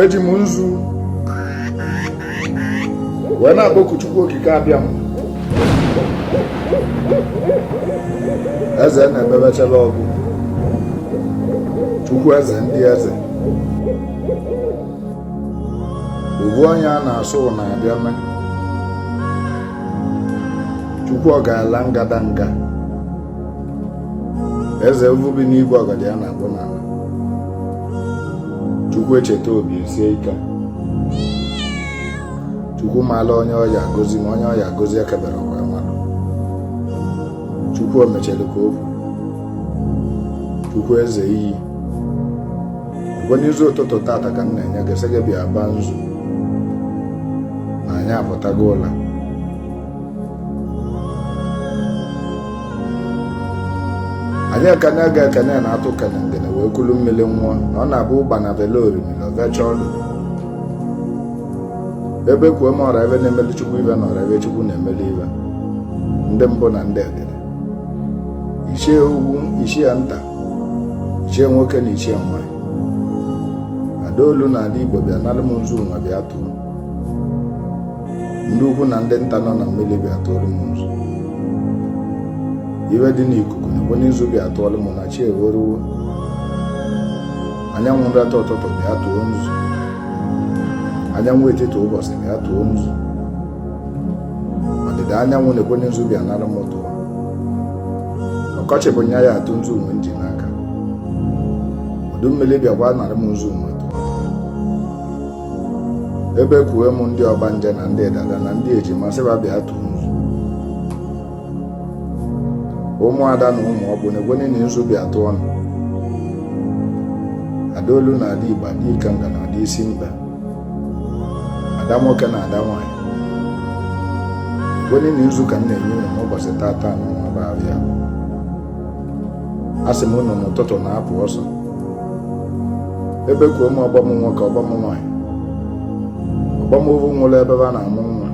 eji m nzu wee na-akpọku Chukwu okike Abịama eze na-emebechela ọgụ Chukwu eze ndị eze ovu onye a na-asị unu abịa mee Chukwu ọgalanya ngadanga eze ovu bi n'igwe ọgọdọ ya na-akpụ n'ala chukwu echeta obi esie ike chukwu maala onye ọ ya-agọzi ma onye ọ ya-agọzi ekebere ọ gwa mmadụ chukwu omechalu ka o kwu chukwu eze iyi ekwe nzu ụtụtụ tata ka m na-enye gị sị gị bịa baa nzu na anyị apụtago ụla anyị ekene aga ekene ana atụ kene ngene wee kulu mmiri ṅụọ na ọ na-abụ ụgbana velu orimiri o vechaa ọlụ ebe kwuo m ọra ive na-emeli chukwu ive na ọra ive chukwu na-emeli ive ndị mbụ na ndị egede ichie ukwu ichie nta ichie nwoke na ichie nwanyị ada olu na ada igbo bịa nalụ m nzu nwa bịa tụọ ndị ukwu na ndị nta nọ na mmiri bịa tụrụ m nzu ive dị n'ikuku na-ekwenye nzu bịa tụọrọ m na chi eweruwo anyanwụ nrata ụtụtụ bịa tụọ nzu anyanwụ etiti ụbọchị bịa tụọ nzu ọdịda anyanwụ na-ekwenye nzu bịa nara m tụọ ọkọchị bụ nya ya-atụ nzu nwa m ji n'aka udu mmiri bịakwa nara m nzu nwa ebe kwue m ndị ọgbanje na ndị dada na ndị ejima sị va bịa tụrụ nzu ụmụada na ụmụ ọkpụ na-ekwenye na nzu bịa tụọnụ ada olu na ada igbo ada ikenga na ada isi mkpa ada nwoke na ada nwanyị ekwenye na nzu ka m na-enye unu n'ụbọchị tata nụnwa bụ avọ a sị m unu n'ụtụtụ na-apụ ọsọ ebe kwuo m ọgbọ m nwoke ọgbọ m nwaanyị ọgbọ m ovu nwụrụ ebe a na-amụ nwa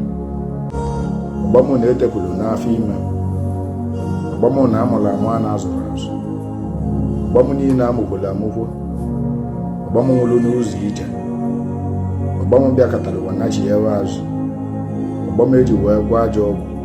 ọgbọ m na-etepụrụ n'afọ ime ọgbọ m na amụrụ amụ a na-azụrọ azụ ọgbọ m niile amụkworo amụkwo ọgbọ m nwụrụ n'ụzọ ije ọgbọ m bịakọtara ụwa nachighaa azụ ọgbọ m eji wee gwọọ ajọ ọgwụ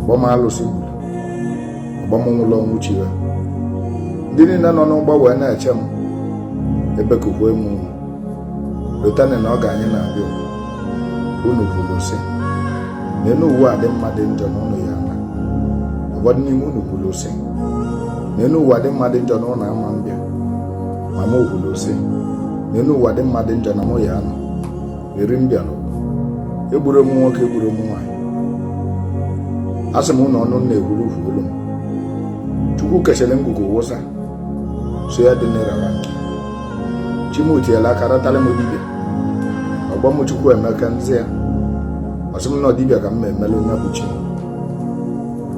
ọgbọ m alụsị gburu ọgbọ m nwụlụ ọnwụ chi ha ndị niile nọ n'ụgbọ wee na-eche m ebekukwe m unu lotani na oge anyị na-abịa unu kwuru sị ma enu ụwa dị mma dị njọ na unu ya ana ụfọdụ n'ime unu kwuru sị ma enu ụwa dị mma dị njọ na unu ama mbịa ma m kwuru sị ma enu ụwa dị mma dị njọ na mụ ya anọ eri m bịara egburo m nwoke egburo m nwaanyị a sị m unu ọnụ na-ekwuru ukwu olu m chukwu kechara ngwugwu wụsa sọ ya dị n'ịrara nke chi mụ tiela aka ratara m dibịa ọgbọ m chukwu emeka nzi ya ọ sị m na dibịa ka m na-emele onye bụ chi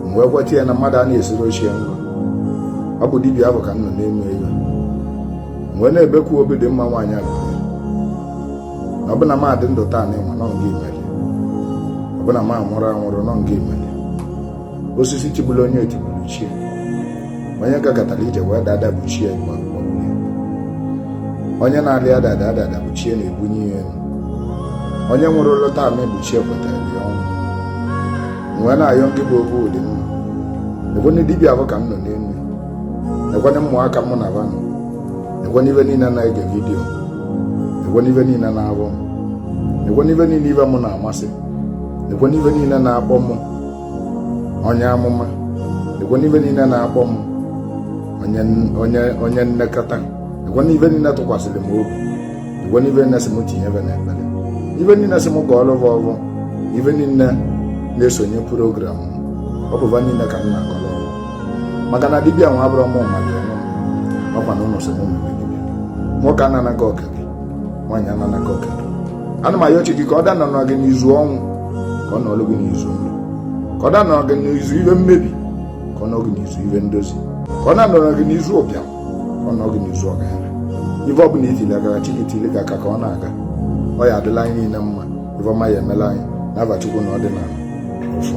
m wee kweta ya na mmadụ a na-esiri chi e nrọ ọ bụ dibịa ahụ ka m nọ n'elu e wee na-ebekwu obi dị mma nwaanyị a na ọ bụ na m adị ndụ taanị nwa nọ ngị meli ọ bụ na m anwụrụ anwụrụ nọ ngị meli osisi tigburu onye etigbu bụ chi e onye gagatara ije wee daa ada bụ chi e igba onye na-alị adada adada bụ chi e na-ebunye ya elu onye nwụrụlụ taanị bụ chi e kwetara ya ọnwụ wee na-ayọ ngị bụ obi dị mma ọ bụ dibịa ahụ ka m nọ n'elu nekwana ụmụaka mụ na va nọ nekwana ive niile na-ege vidiyo nekwana ive niile na-avụ m nekwana ive niile ive m na-amasị nekwana ive niile na-akpọ m onye amụma nekwana ive niile na-akpọ m onye nlekọta nekwana ive niile tụkwasịrị m obi nekwana ive niile sị m tinye ve na ekpere ive niile sị m gọọlọ va ọvọ ive niile na-esonye program m ọ bụ va niile ka m na-agọrọ maka na dibịa nwa abụrọ mụ maka onwe m ọkwa na unu sịrị m mewe dibịa nwoke anana gị oke gị nwaanyị anana gị oke gị ana m ayọ chi gị ka ọ danọrọ gị n'izu ọnwụ ka ọ nọrọ gị n'izu ndụ ka ọ danọrọ gị n'izu ive mmebi ka ọ nọrọ gị n'izu ive ndozi ka ọ na-anọrọ gị n'izu ụbịam ka ọ nọrọ gị n'izu ọgaranya ife ọ bụla i tili aka chi gị tili gị aka ka ọ na-aga ọ ya adịlị anyị niile mma ife ọma ya emeli anyị n'ava chukwu na ọdịnala ọfụ